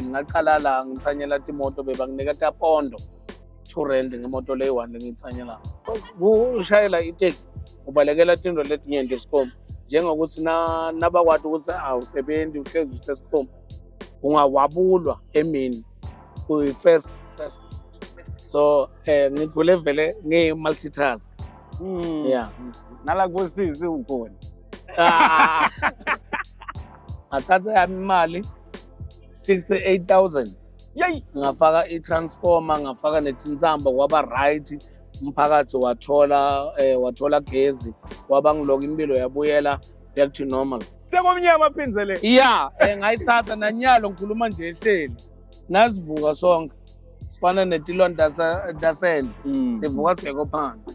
ngingaqala la ngithanyela timoto bebanginika tapondo two rand ngemoto leyi-one lengiyithanyela because kushayela iteksi ubalekela tinto letinyenti esikhomba njengokuthi nabakwati ukuthi awusebenzi uhlezi usesikhomba ungawabulwa emini kuyi-first suspect so um eh, ngigule vele ngiyi-multitask hmm. ya nala kosizi ukhona ah. ngathatha yami imali 68000 yeyi ngafaka i-transformer ngafaka netinsamba kwaba right umphakathi wathola eh, wathola gezi kwaba ngiloko impilo yabuyela back to normal sekomnyama aphinzele ya eh, ngayithatha nanyalo ngikhuluma nje ehleli nasivuka sonke sifana netilwane tasendle mm. sivuka singekho phandle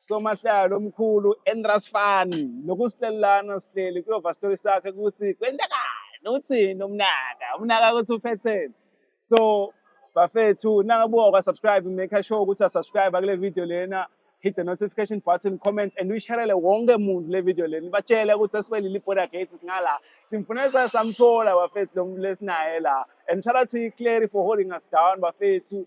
somahlalo omkhulu Endras Fan nokusihlelelana sihleli kulova story sakhe ukuthi kwenzekani uthini umnaka umnaka ukuthi uphetheni so bafethu nangabuka kwa subscribe make sure ukuthi subscribe kule video lena hit the notification button comment and uyisharele wonke muntu le video lena batshele ukuthi esikwelile iborder gate singala simfunela samthola bafethu lo muntu lesinaye la and shout out to you Clary for holding us down bafethu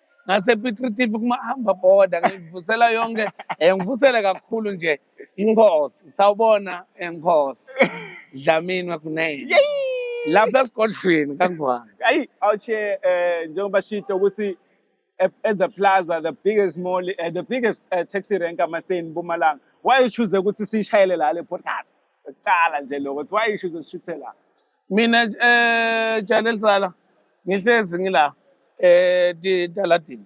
ngasepitritif kumahamba boda ngivusela yonke um ngivusele kakhulu nje inkosi sawubona enkosi dlamini wakunene lapha esigodlweni kangwane ayi awuche um njengoba shito ukuthi at the plaza the biggest mall uh, the biggest uh, taxi rank amaseni mpumalanga why uchuze ukuthi siyishayele la le podcast Kuqala nje lokho kuthiwa isho uzoshuthela. Mina eh jana elisala ngihlezi ngila eh daladini.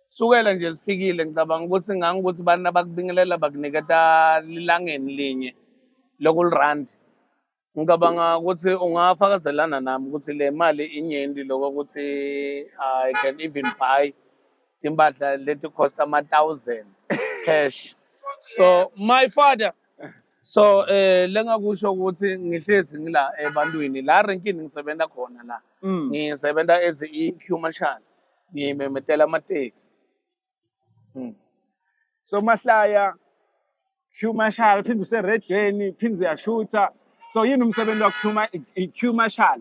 Sukela nje sifikile ngicabanga ukuthi ngangikuthi abantu abakubingelela bakuniketa lilangeni linye local rand. Ngicabanga ukuthi ungafakazelana nami ukuthi le mali inyenti lokho ukuthi I can even buy timpahla leti cost ama-thousand cash so my father so eh lengakusho ukuthi ngihlezi ngila ebantwini la renkini ngisebenza khona la mm. ngisebenza as i queue marshal ngimemetela ama taxi mm. so mahlaya queue marshal phinde use redweni phinde uyashutha so yini umsebenzi wakho i queue marshal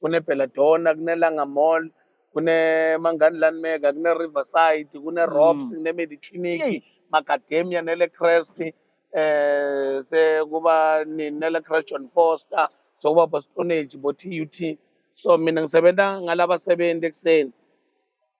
kune-belladonna kunelanga mall kune-mangani landmega kune-riverside kune-robs mm. kune-mediclinic macademia nelecrest um eh, sekuba nelecrest john foster sokuba bostonage bo-t u t so mina ngisebenza ngalabasebenzi ekuseni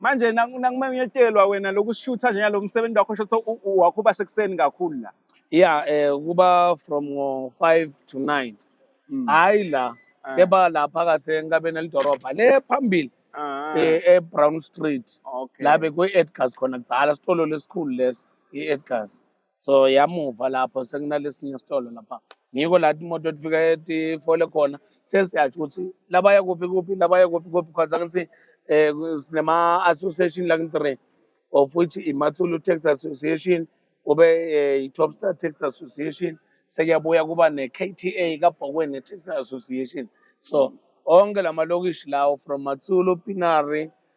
manje nakuma uyetelwa wena lokushutha nje lo msebenzi wakho sho so wakho uba sekuseni kakhulu la yeah eh kuba from 5 to 9 mm. hayi la ah. keba la phakathi enkabeni elidorobha le phambili ah. eh, e Brown Street la bekwe Edgars khona kudzala sitolo lesikhulu leso i Edgars so yamuva lapho sekunalesinye isitolo lapha ngiko la imoto efika etifole khona sesiyatsho ukuthi labaya kuphi kuphi labaya kuphi kuphi because angithi eh, um sinema-association lakin-three of which imathulu tax association kube eh, i-top star tax association sekuyabuya kuba ne-kta kabhokweni tax association so onke la malokishi lawo from mathulu pinary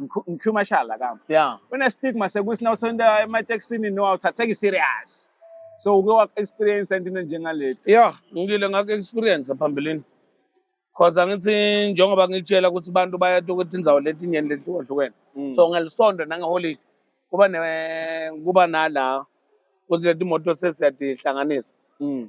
ngikhuluma mashala kami yeah une stigma sekuthi na uthanda ematekisini no awuthatheki serious so uke wa experience into njengaleli yeah ngile ngak experience phambilini cause angithi njengoba ngitshela ukuthi abantu bayatu ukuthi inzawo letinyeni lehlukahlukene mm. so ngelisonto nangeholiday kuba ne kuba nala ukuthi letimoto sesiyadihlanganisa mm.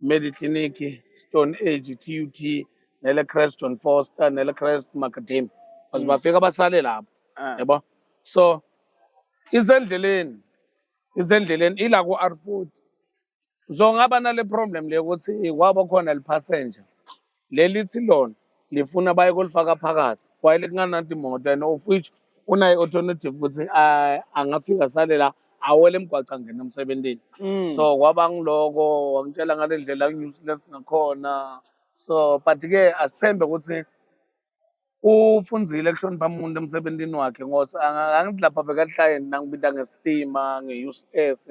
Medi Clinic, Stone Age, TUT nele Creston Foster nele Crest Macadam. Because bafika basale lapho. Ah. Yebo. So izendleleni izendleleni ila ku R40. Uzongaba nale problem le ukuthi kwaba khona le passenger. leli thi lona lifuna baye kolifaka phakathi kwayele kungananti imoto and of which unaye alternative ukuthi ah, angafika sale la awele emgwaca ngena emsebenzini Mm. so kwaba ngiloko wangitshela ngale ndlela useless ngakhona so but ke asithembe ukuthi ufunzile kuhlonipha umuntu emsebenzini wakhe ngoba angithi lapha bekalihlale nangibita ngestima nge-useless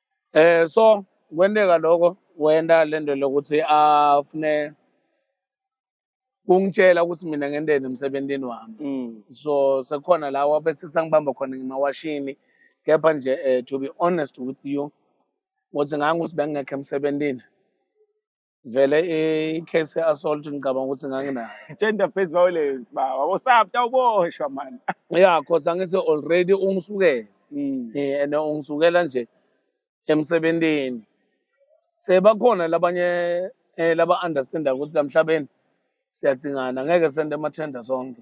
Eh so kwenteka lokho wenda lento lokuthi afune kungitshela ukuthi mina ngenteni emsebenzini wami mm. so sekhona la wabe sisangibamba khona ngimawashini kepha nje eh, to be honest with you ukuthi ngangikuthi bengingekho emsebenzini vele i-case ye-assault ngicabanga ukuthi nganginayo gender based violence ba wabosapta uboshwa mani ya cause angithi already ungisukele mm. eh, and ungisukela nje emsebentini sebakhona labanye eh, laba-understanda ukuthi la mhlabeni siyathingana ngeke sente amathenda sonke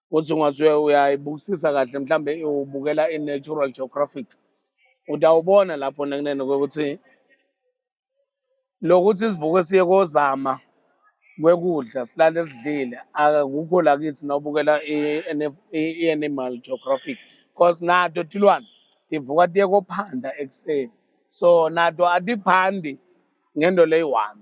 ukuthi ungaze uyayibukisisa kahle mhlambe ubukela i-natural geographic utawubona lapho nekunene kwekuthi lokuthi sivuke siye kozama kwekudla silale sidlile akukho la kithi nawubukela i-animal geographic because nato tilwane tivuka tiye kophanda ekuseni so nato atiphandi ngento leyi-one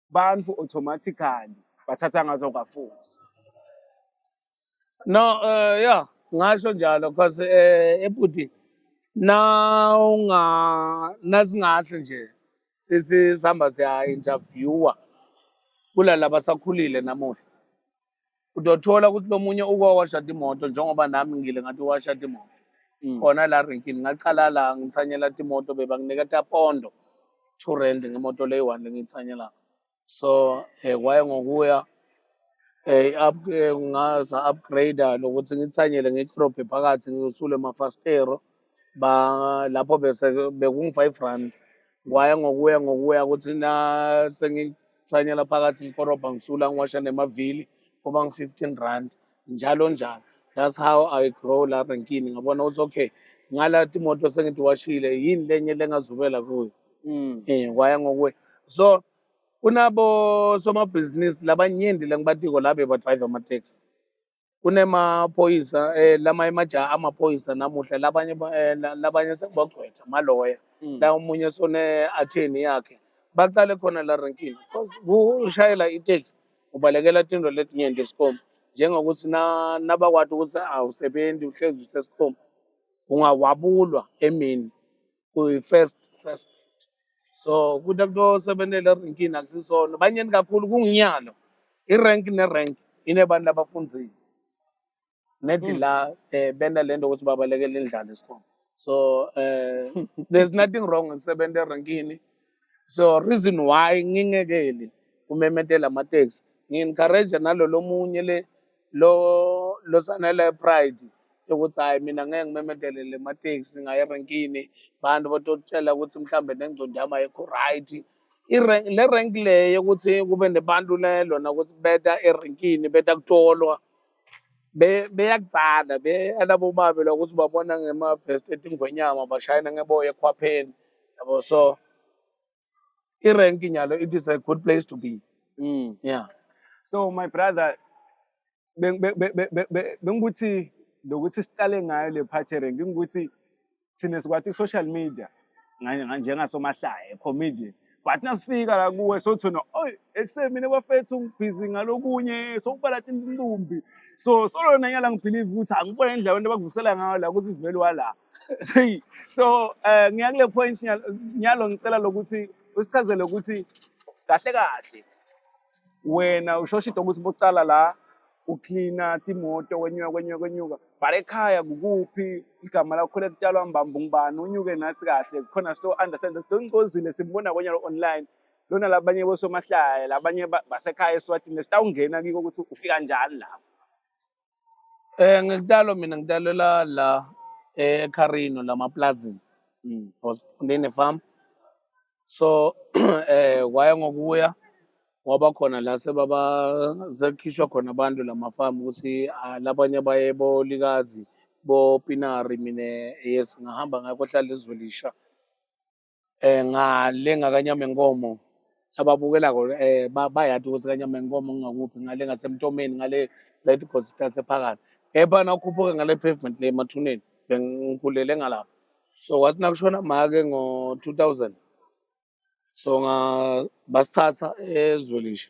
bantu automatically bathatha ngazo kafuthi no uh, yeah ngasho njalo because uh, eh, ebhuti nawunga nasingahle nje sithi sihamba siya interviewer kulala basakhulile namuhla udothola ukuthi lomunye uko washa imoto njengoba nami ngile ngathi washa imoto mm. khona la renkini ngaqala la ngithanyela imoto beba nginika tapondo to rent ngemoto leyi one lengithanyela so eh kwaye ngokuya eh up eh, ngaza upgrade lokuthi ngithanyele ngicrobe phakathi ngiusule mafastero ba lapho bese bekungu-five rand kwaya ngokuya ngokuya ukuthi na sengithanyela phakathi ngikorobha ngisula ngiwasha nemavili kuba ngu-fifteen rand njalo njalo that's how i grow la renkini ngabona ukuthi okay ngala timoto sengitiwashile yini lenye lengazubela kuyo mm. eh kwaya ngokuya so kunabo somabhizinisi labanyenti lengibatiko la bebadrayiva ama-taxi kunemaphoyisa eh lama emajaha amaphoyisa namuhla labanye ba- eh, la- labanye sebagcwetha maloya Mm. la omunye sone atheni yakhe baqale khona la renkini because kushayela itaxi ubalekela tinto letinyenti esikhomba njengokuthi na nabakwati ukuthi awusebenzi uhlezi usesikhomba ungawabulwa emini kuyi-first suspect so ukuthi abantu osebenzela erenkini akusisona banyeni kakhulu kunginyalo irenki nerenki inebantu abafunzile nedi hmm. la um bena le nto ukuthi babalekele indlala esikhona so um there's nothing wrong ngisebenza erenkini so reason why ngingekeli kumemethela amateksi ngi-encourage nalolo munye le lo lo sanele pride yokuthi hayi mina ngeke ngimemedele le mateksi ngaye renkini abantu batotshela ukuthi mhlambe nengcondo yami ayikho right le rank le yokuthi kube nebantu le lona ukuthi beta erenkini beta kutolwa beyakutsala be alabo babe lokuthi babona ngema-vest etingwenyama bashayela ngeboya ekhwapheni yabo so irenki nyalo it is a good place to be mm. yeah so my brother bengikuthi lokuthi siqale ngayo le part erenki ngikuthi thina sikwati social media njengasomahlaya comedian but nasifika la kuwe sothona oy ekuseni mina bafethu ngibhizi ngalokunye sokubala tintumbi so solona nyala ngibhilive ukuthi angibona indlela abantu abakuvusela ngayo la ukuthi sivele wala Hey, so eh ngiya kule point nya- nyalo ngicela lokuthi usichazele ukuthi kahle kahle wena ushosha into ukuthi bocala la ucleana timoto wenyuka kwenyuka kwenyuka but ekhaya kukuphi igama lakho lekutalwa mbamba ngubani unyuke nathi kahle khona sito understand sito ngozile simbona konyalo online lona labanye bosomahlaya labanye ba- basekhaya eswatini sitawungena kiko ukuthi ufika njani lapho Eh ngikutalwa mina ngitalela la eh, eCarino lamaplazini. Mm. I was born in a farm. So eh kwaya ngokuya waba khona la sebaba sekukhishwa khona abantu lamafamu ukuthi ah, labanye baye bolikazi bopinari mina yes ngahamba ngakho hlala ezwelisha eh ngale ngakanyama inkomo ababukela ko eh bayati ukuthi kanyama inkomo ngakuphi ngale ngasemtomeni ngale right because itase phakathi kepha nakhuphuka ngale pavement le mathuneni bengikhulele ngalapha so wathi nakushona make ngo 2000 so nga basithatha ezwelisha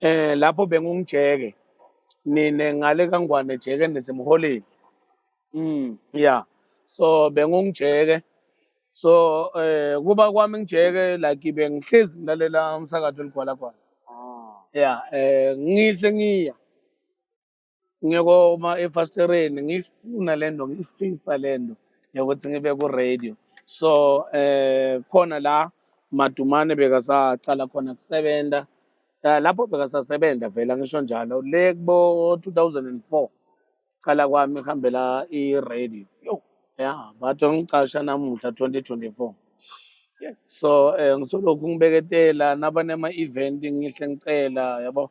eh lapho bengungijeke nine ngale kangwane jeke nisemholeni mm yeah so bengungijeke so eh kuba kwami ngijeke like bengihlezi ngilalela umsakazo ligwala gwala ah. yeah eh ngihle ngiya ngiyokoma efastereni ngiyifuna le nto ngiyifisa le nto yokuthi ngibe ku-radio so eh khona la madumane bekasacala khona kusebenza eh, lapho bekasasebenza vele angisho njalo le kubo 2004 cala kwami ihambela i-radio yo ya bathi ngicasha namuhla 2024 so um ngisolokhu ngibeketela nabanema-event ngihle ngicela yabo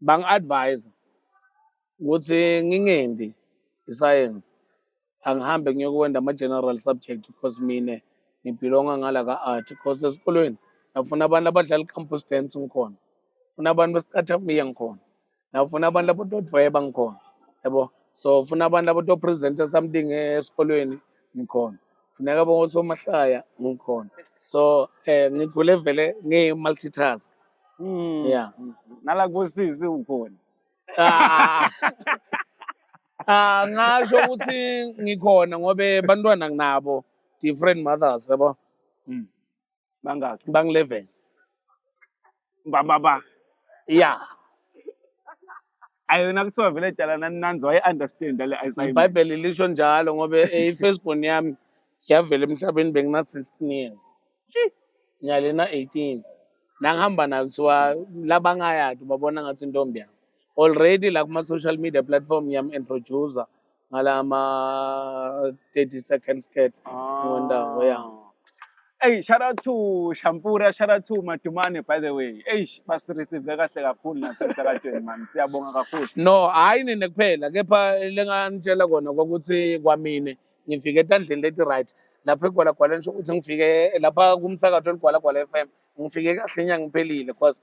bangi-advise ukuthi ngingendi isayensi angihambe ngiyokwenda ama-general subject because mina ngibhilonga ngala ka-art because esikolweni nafuna abantu abadlala i-campus dance ngikhona funa abantu besicathambiya ngikhona nafuna abantu abadodvweba ngikhona yabo so funa abantu abatopresenta something esikolweni ngikhona funeka bonke osomahlaya ngikhona so um ngigule vele ngiyi-multitask hmm. ya nala kosisi ukhona ah. ah ngasho ukuthi ngikhona ngobe bantwana nginabo different mothers yabo mm. bangaki bangileven bababa ya ayona kuthiwa vele dala naninanzi waye-understand ale assignment ibhayibheli lisho njalo ngoba eh, i-firstborn yami yavela emhlabeni bengina-16 years ngiyalena 18 nangihamba nayo kuthiwa labangayati babona ngathi intombi yami already la kuma-social media platform ngiyam-introducer ngala ma 30 second skirts ngondawo ya Hey, shout out to Shampura, shout out to Matumane by the way. Hey, basireceive kahle kakhulu nasemsakadweni man. Siyabonga kakhulu. no hayi nina kuphela kepha lenganitshela kona kwakuthi kwamine ngifike etandleni leti right lapho egwalagwala nisho ukuthi ngifike lapha kumsakato eligwalagwala FM ngifike kahle inyanga iphelile cause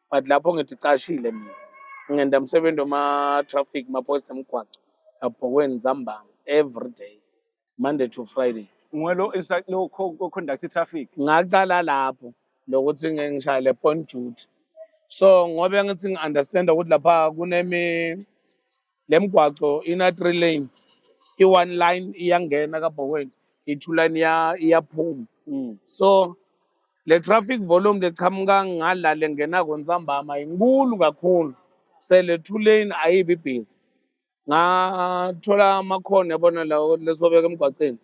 but lapho ngidicashile mina ngenda msebenzi wama-traffic maphoyisa emgwaco abhokweni zambanga every day monday to friday ngiweloconduct traffic ngaqala lapho lokuthi ngishaye le point duty so ngobe ngithi ngi-understanda ukuthi lapha kunemi le mgwaco ina-three lane i-one line iyangena kabhokweni i-two line iyaphuma mm. so le traffic volume leqhamuka ngala lengena kontsambama inkulu kakhulu se le two lane ayibi busy ngathola amakhona yabona lawo lesobeka emgwaqeni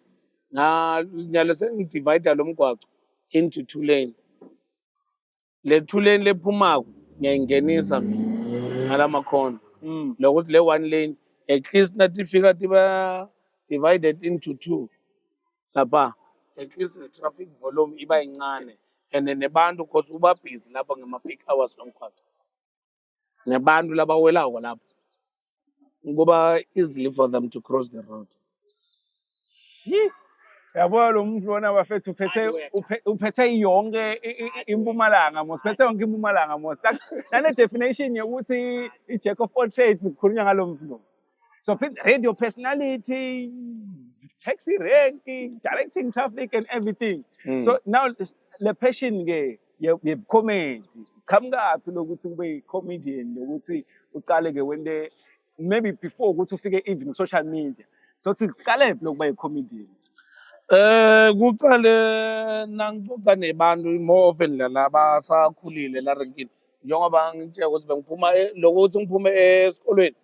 nyalo sengidivayida lo mgwaco into two lane le two-lane lephumako ngiyayingenisa mina ngala makhona Mm. lokuthi le one lane at least nathi fika tiba divided into two lapha at least the traffic volume iba yincane and then nebantu cause uba busy lapha ngema-peak hours lomgwaqo nabantu labawelako lapho kuba easily for them to cross the road yabona lo muntu lona bafethu uphethe uphethe yonke impumalanga mos phethe yonke impumalanga mos nane definition yokuthi i-jack of all trades kukhulunywa ngalo muntu lo So radio personality, taxi rank, directing traffic and everything. Mm. So now le passion ke ye comedy. Qhamukaphi lokuthi ube comedian nokuthi uqale ke wende maybe before ukuthi ufike even social media. So siqale phi lokuba ye comedian? Eh kuqale nangixoxa nebantu more often lana abasakhulile la renkini njengoba ngitshela ukuthi bengiphuma eh, lokuthi ngiphume esikolweni eh,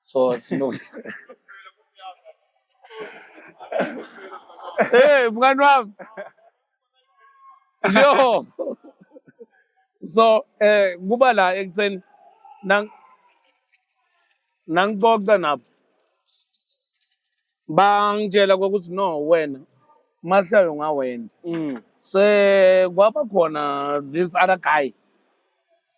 So sino Hey mngani wami. Yo. So eh kuba la ekuseni nang nangixoxa nabo. Bangitshela ukuthi no wena mahlayo ngawena. Mm. Se kwaba khona this other guy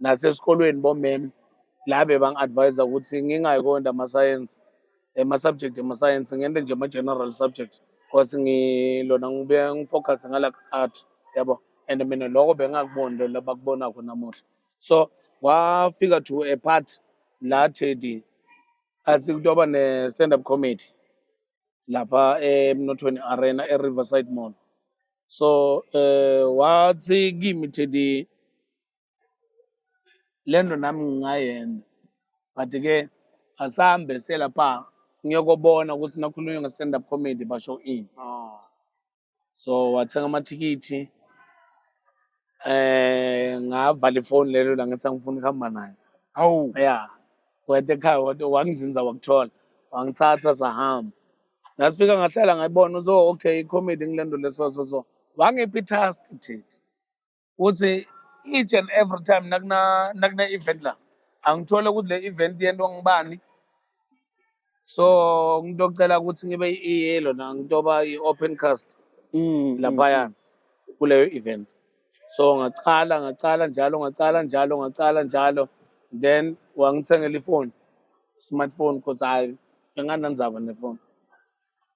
nasesikolweni bomem la bebangi-advise ukuthi ngingayi konda amasayensi ama-subject emasayensi ngente nje ama-general subject because ngilona ngibuye ngifocuse ngala art yabo and mina loko bengingakuboni lo labakubonako namuhla so kwafika to a part la Teddy athi kutoba ne-stand up comedy lapha emnothweni arena e-riverside mall so eh wathi kimi thedi le nto nami ngingayenza but ke asambe selapha ngiyokobona ukuthi nakhulunywa nge-stand up comedy basho ini so wathenga amathikithi eh ngavala ifoni lelo la ngithi angifuni ukuhamba naye awu ya wete ekhaya wate wangizinza wakuthola wangithatha sahamba nasifika ngahlala ngayibona uzo okay i-comedy ngilento leso so so wangipha i-task thithi ukuthi each and every time nakuna nakune event la angithole ukuthi le event yento ngibani so ngitocela ukuthi ngibe iyelo na ngitoba i-open cast mm, mm, laphaya mm. kuleyo event so ngacala ngacala njalo ngacala njalo ngacala njalo then wangithengela ifoni smartphone because hayi engananzaba nefoni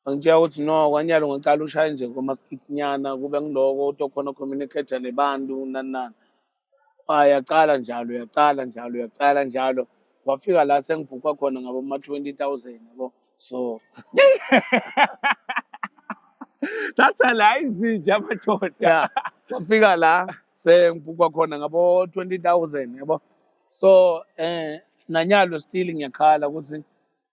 Angitshela ukuthi no kwanyalo ngicala ushaye nje komaskithinyana kube ngiloko utokhona communicator nebantu nani nani ah, yaqala njalo yaqala njalo yaqala njalo wafika la sengibhukwa khona ngabo ma 20000 yabo so thatha la izinja amadoda wafika la sengibhukwa khona ngabo 20000 yabo so eh nanyalo still ngiyakhala ukuthi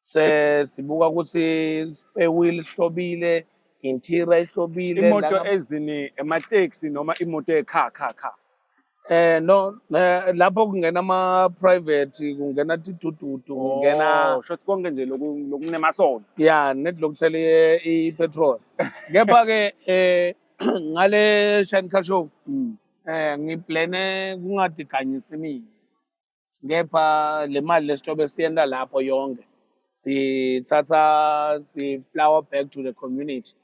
sesibuka ukuthi spare wheel sihlobile interior ihlobile imoto ezini emateksi noma imoto ekha kha kha Eh no eh, lapho kungena ama private kungena tidududu oh, kungena shothi konke nje lokunemasonto yeah net lokuthela i petrol kepha ke eh ngale shine car show mm. eh ngiplane kungadikanyisi mina kepha le mali lesitobe siyenta lapho yonke sithatha si-flower back to the community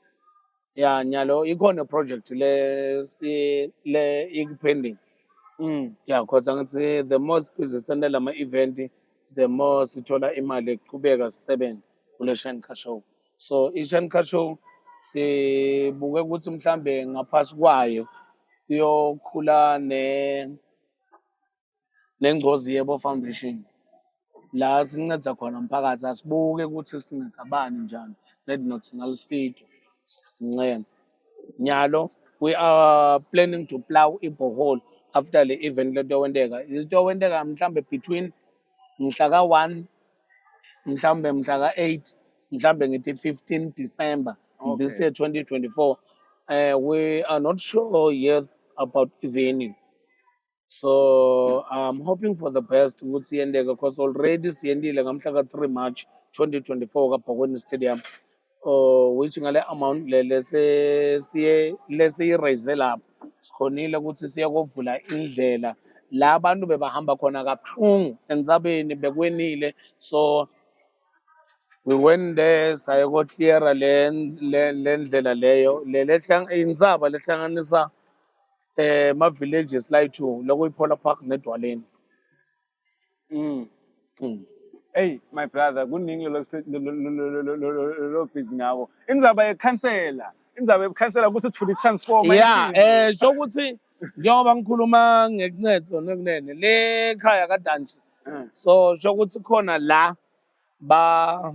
ya nyalo ikhona project le si le ikupending mm. ya khoza ngithi the more sizisenda lama event the more sithola imali eqhubeka sisebenze kule shine car show so i-shine car show sibuke ukuthi mhlambe ngaphasi kwayo kuyokhula ne neNgcozi Yebo Foundation la sinceda khona umphakathi asibuke ukuthi sinceda bani njani let not nalisido sincenze nyalo we are planning to plow ibhohole after le event lento yokwenteka izinto yokwenteka mhlambe between mhla ka-1 mhlawumbe mhla ka-8 mhlawumbe ngithi 15 december okay. this year 2024 uh, eh, we are not sure yet about venue so i'm hoping for the best ukuthi yendeke because already siyendile ngamhla ka-3 march 2024 kabhokweni stadium uh, which ngale amount le lesiyiraise lapho sikhonile ukuthi siye kovula indlela la abantu bebahamba khona kabuhlungu entsabeni bekwenile so we went there saye kocleara le ndlela leyo le insaba lehlanganisa eh ma villages la two loko iPolar Park nedwaleni mm mm hey my brother kuningi lo lo busy ngako indzaba yekhansela indzaba yekhansela ukuthi uthule transformer yeah eh so ukuthi njengoba ngikhuluma ngekuncedo nekunene le khaya kaDanji mm. so so ukuthi khona la ba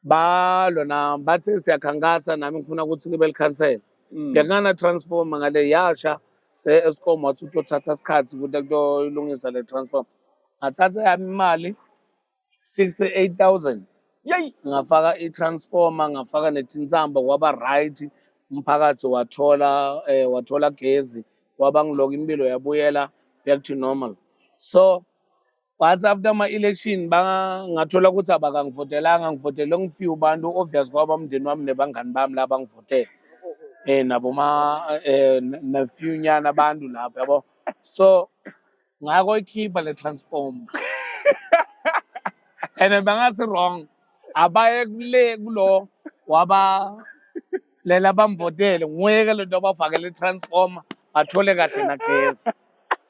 balwa na bathe siyakhankasa nami ngifuna ukuthi libe likhansela mm. ngekana transform ngale yasha se Eskom wathi utothatha isikhathi ukuthi kuyoyilungisa le transform ngathatha yami imali 68000 yey ngafaka i-transformer ngafaka netinsambo kwaba right umphakathi wathola eh, wathola gezi waba ngiloko impilo yabuyela back to normal so But after ama-election bangathola ukuthi abakangivotelanga ngivotele ngifew abantu obvious kwaba umndeni wami nebangani bami la bangivotele eh naboma eh nefew nyana abantu lapho yabo so ngako ikhipha le transform and bangasi wrong abaye kule kulo waba lela bamvotele nguye ke lento abafakele transformer athole kahle nagesi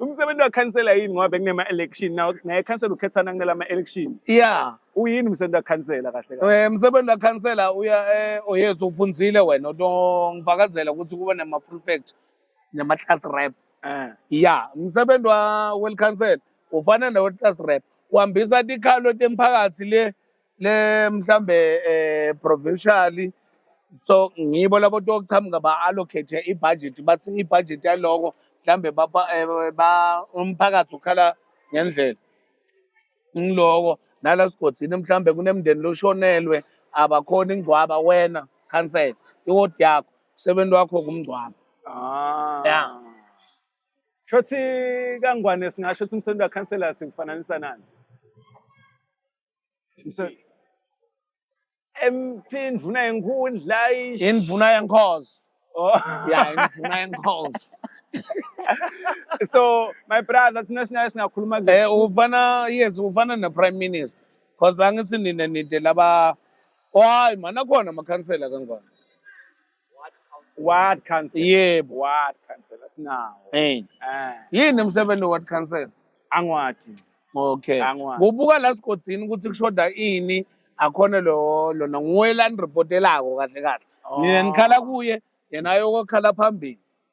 umsebenzi wakhansela yini ngoba bekunema election nawo naye khansela ukhethana kunela ama election yeah uyini umsebenzi wakhansela kahle kahle eh umsebenzi wakhansela uya eh oyezwa ufunzile wena ongifakazela ukuthi kuba nama prefect nama class rep eh yeah umsebenzi wa well council ufana ne class rep uhambisa tikhalo temphakathi le le mhlambe eh provincial so ngibo labo tokuchamuka ba allocate ibudget bathi ibudget yaloko mhlambe baba eh, ba umphakathi ukhala ngendlela ngiloko nala sigodini mhlambe kunemndeni loshonelwe abakhona ingcwaba wena cancel iwodi yakho umsebenzi wakho kumngcwaba ah yeah shothi kangwane singasho ukuthi umsebenzi wakhansela sikufananisa nani Empindvuna yenkhundla ish. Indvuna yenkhosi. Oh. Yeah, indvuna yenkhosi. so my brother sina sina singakhuluma nje. Eh ufana yes ufana ne prime minister. Cause angithi nina nide laba Oh hayi mana khona amakhansela kangaka. ward council yebo ward council asinawo hey eh. eh. yini umsebenzi ward council angwadi okay kubuka la sigodini ukuthi kushoda ini akhona lo lona nguwe lanireportelako kahle kahle nina oh. nikhala kuye yena ayokokhala phambili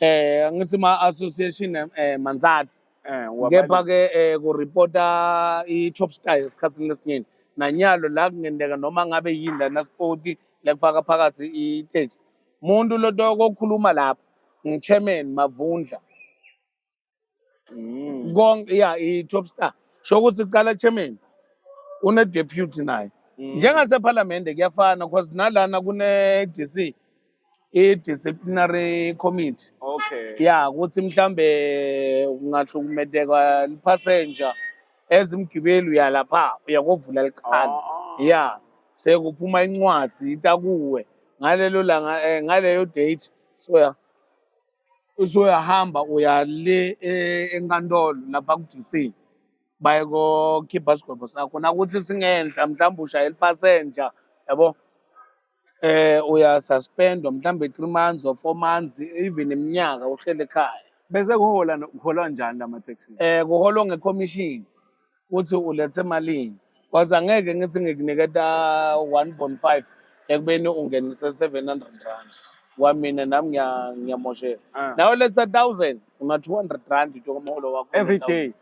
eh angithi ma association eh manzathu eh kepha ke eh ku reporta i top star esikhathini lesinyeni nanyalo la kungenteka noma ngabe yini la na sport la kufaka phakathi i tax umuntu lotoko okhuluma lapha ngichairman mavundla Mm. konke ya i-top star sho ukuthi kuqala chairman une-deputy naye Mm. njengasephalamende kuyafana cause nalana kune-d c i-disciplinary committee Okay. ya ukuthi mhlambe kungahlukumedeka liphasenja ezimgibeli uyalapha uyakovula liqhala Ah. ya sekuphuma incwadi itakuwe ngalelo langa eh, ngaleyo date soya uzoyahamba uya le e- enkantolo lapha ku-dc bayekokhipha isigwebo sakho nakuthi singenhla mhlawumbe ushayela ipasenja yabo eh uyasuspendwa mhlawumbe three months or four months even iminyaka uhlele ekhaya Bese kuhola kuholwa njani lama taxi? eh kuholwa ngekhomishini ukuthi ulethe malini cause angeke ngithi ngikuniketa 1.5 ekubeni ungenise 700 rand kwamina nami ngiya- ngiyamosheka Ah. nawe letha 1000 una 200 rand nje komholo wakho every day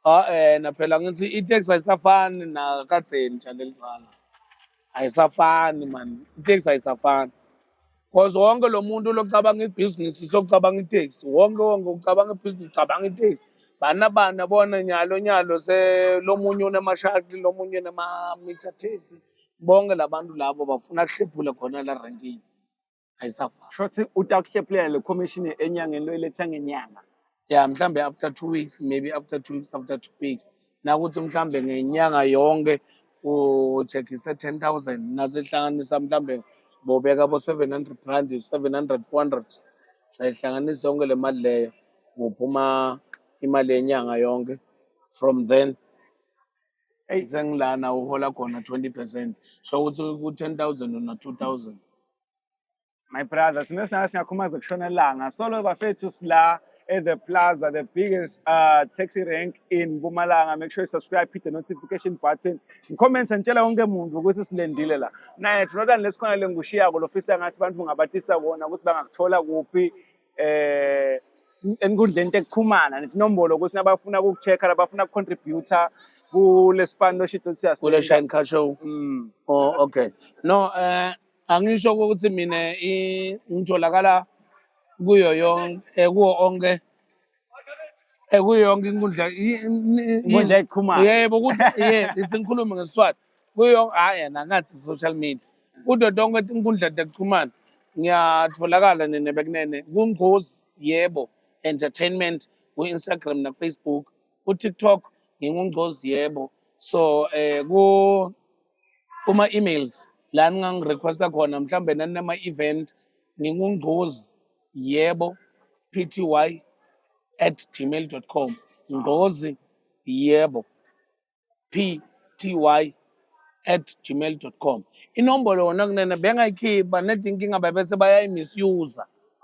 ah eh na phela ngithi i-tax ayisafani nakathe nja lelizana ayisafani mani iteksi ayisafani because wonke lo muntu locabanga ibhizinisi sokucabanga iteksi wonke wonke ucabanga ibhizinisi ucabanga iteksi bana bana bona nyalo nyalo selomunye unemashakli lomunye unema-meter taxi bonke la bantu labo bafuna kuhlephule khona la rankini ayisafani shothi utakuhlephulela le commission enyangeni loyiletha ngenyanga ya mhlambe after two weeks maybe after two weeks after two weeks nakuthi mhlambe ngenyanga yonke uthekise ten thousand nasehlanganisa mhlambe bobeka bo seven hundred rand seven hundred four hundred sayihlanganisa yonke le mali leyo kuphuma imali yenyanga yonke from then eyi sengilana uhola khona 20 percent so ukuthi ku-10 thousand una 2 thousand my brother thina sinaka singakhumaza kushona elanga solo bafethu sila at the plaza the biggest uh, taxi rank in mpumalanga make sure you subscribe hit the notification button ngicomment ngitshela wonke muntu ukuthi silendile la naye not unless khona lengushiyako lofisa ngathi abantu ngabatisa kona ukuthi bangakuthola kuphi eh enkundleni tekuxhumana netinombolo ukuthi nabafuna ukucheck-a labafuna ukucontributor kulesipani loshito siyase kule shine car show mm. oh okay no eh angisho ukuthi mina ngitholakala kuyo yonke eh, kuwo onke ekuyo eh, yonke inkundla inkundla ekuxhumana yebo ukuthi yebo ithi ngikhulume ngesiswati kuyo yonke hayi yena ngathi social media kudo tonke inkundla zokuxhumana ngiyatholakala nene bekunene kungcozi yebo entertainment ku-instagram nakufacebook kutiktok ngingungcozi yebo so eh ku kuma-emails la ningangirequesta khona mhlawumbe naninama-event ngingungcozi yebo pty at gmail com ngqozi yebo pty at gmail com inombolo wona kunene bengayikhipha nedi inkinga bebese bayayimisuse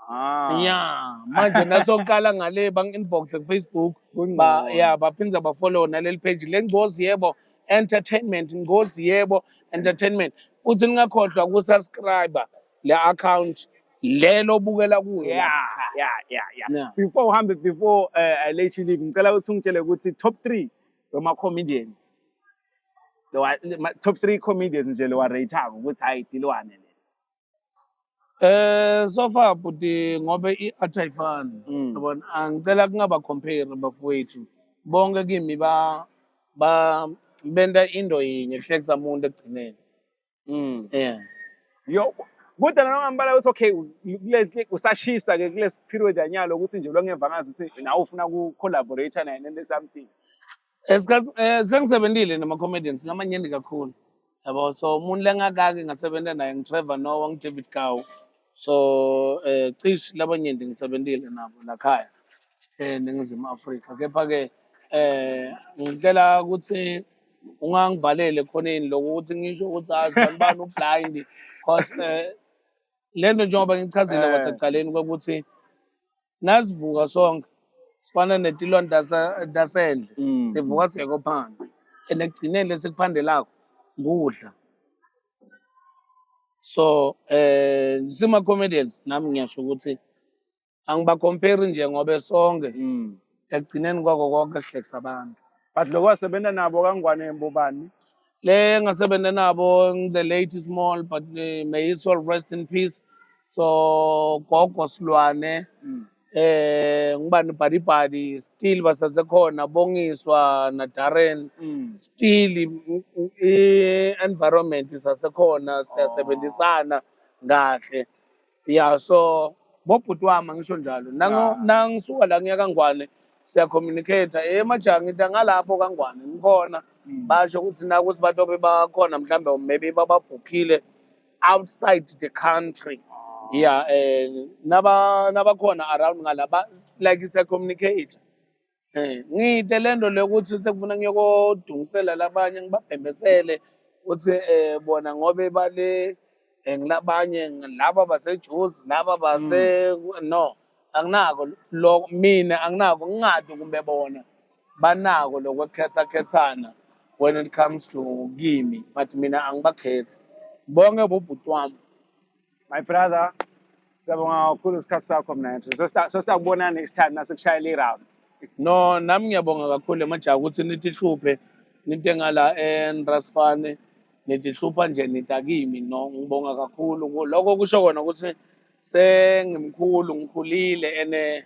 Ah. ya manje nasoqala ngale bangi-inbox kufacebook ba, ya baphinde bafollow naleli page le ngcozi yebo entertainment ngcozi yebo entertainment futhi ningakhohlwa ukusubscribe le account lelo obukela kuyo yeah yeah yeah yeah yeah. before uhambe before uh, I let you leave ngicela ukuthi ungitshele ukuthi top 3 wema comedians lewa le- ma- top 3 comedians nje lewa rate ako ukuthi hayi dilwane le Eh so far bhuti ngobe i-art ayifani Mm. yabona angicela kungaba compare bafowethu bonke kimi ba ba benta into yinye kuhlekisa umuntu ekugcineni Mm. Yeah. Yo kodwa nalo ngambala ukuthi okay kule usashisa ke kule period anyalo ukuthi nje longemva ngazi ukuthi nawe ufuna ku collaborate naye nento something. Esikhathi eh, eh, sengisebenzile nama comedians ngamanyeni kakhulu. Yabo so umuntu lengakake ngasebenza naye ngiTrevor Noah ngiDavid Gawu. So eh cishe labanyenti ngisebenzile nabo la khaya eh, eNingizimu Afrika kepha ke eh ngicela ukuthi ungangivalele khoneni lokho ukuthi ngisho ukuthi azi ah, bani ublind cause eh, le nto njengoba ngichazile eh. kwasekuqaleni kokuthi nasivuka sonke sifana netilwane dasendle mm. sivuka siyekho phandle and ekugcineni lesikuphandelako kudla so eh sima comedians nami ngiyasho ukuthi angibakomperi nje ngobe sonke mm. ekugcineni kwako konke sihlekisa abantu but loko wasebenza nabo kangwane mbobani le ngasebenza nabo the late small but uh, may his soul rest in peace so gogo silwane mm. eh ngubani bhadibhadi still basasekhona bongiswa na Darren mm. still i environment isasekhona siyasebenzisana kahle ya so bobhuti wami angisho njalo Nango- nangisuka la ngiya kangwane siyacommunicate emajaha ngithi angalapho kangwane ngikhona basho ukuthi nakuthi bantu abebakhona mhlawumbe maybe bababhukhile outside the country ya um naba nabakhona around ngala ba- like siyacommunicate Eh, ngide le nto le ukuthi sekufuna ngiyokudungisela labanye ngibabhembesele ukuthi eh bona ngobe bale eh, ngilabanye laba basejuzi laba base mm. no anginako lo mina anginako ngingadi kumbe bona banako lokwekhetha khethana when it comes to kimi but mina angibakhethi bonke bobhuti wami my brother siyabonga kakhulu isikhathi sakho mna nje sosita kubona next time nasekushayela i-round no nami ngiyabonga kakhulu emajaha ukuthi nitihluphe nitengala enrasfane nitihlupha nje nitakimi no ngibonga kakhulu lokho kusho kona ukuthi sengimkhulu ngikhulile ene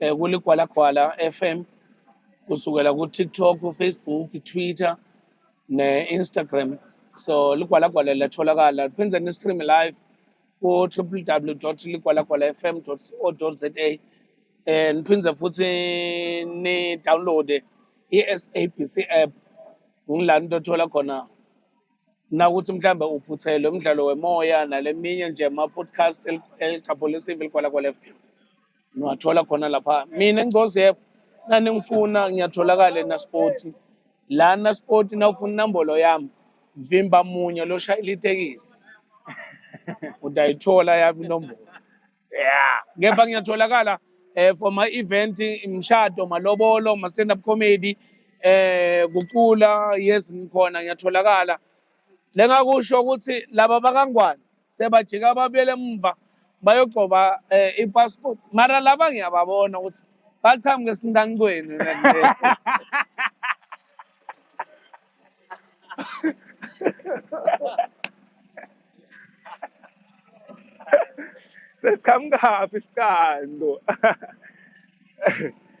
um kuligwalagwala f m kusukela kutiktok ufacebook itwitter ne-instagram so ligwalagwala liyatholakala phinde ni-stream live ku-www dot ligwalagwala f m dot co dot za um niphinde futhi ni-downloade i-sabc app ngilani tothola khona nakuthi mhlawumbe uphuthelwe umdlalo wemoya naleminye nje ama-podcast eligqabholisive ligwalagwala FM niwathola khona lapha mina ngcozi yebo naningifuna ngiyatholakala enaspoti la naspoti nawufuna inombolo yami vimba munye loshayela itekisi utayithola yami inombolo yeah kepha ngiyatholakala eh for my event imshado malobolo ma stand up comedy eh kucula yes ngikhona ngiyatholakala lengakusho ukuthi laba bakangwane sebajika babuyele emva bayogcoba eh, i-passport mara laba ngiyababona ukuthi baqhamuke esincancweni sesiqhamukaphi isiqanqo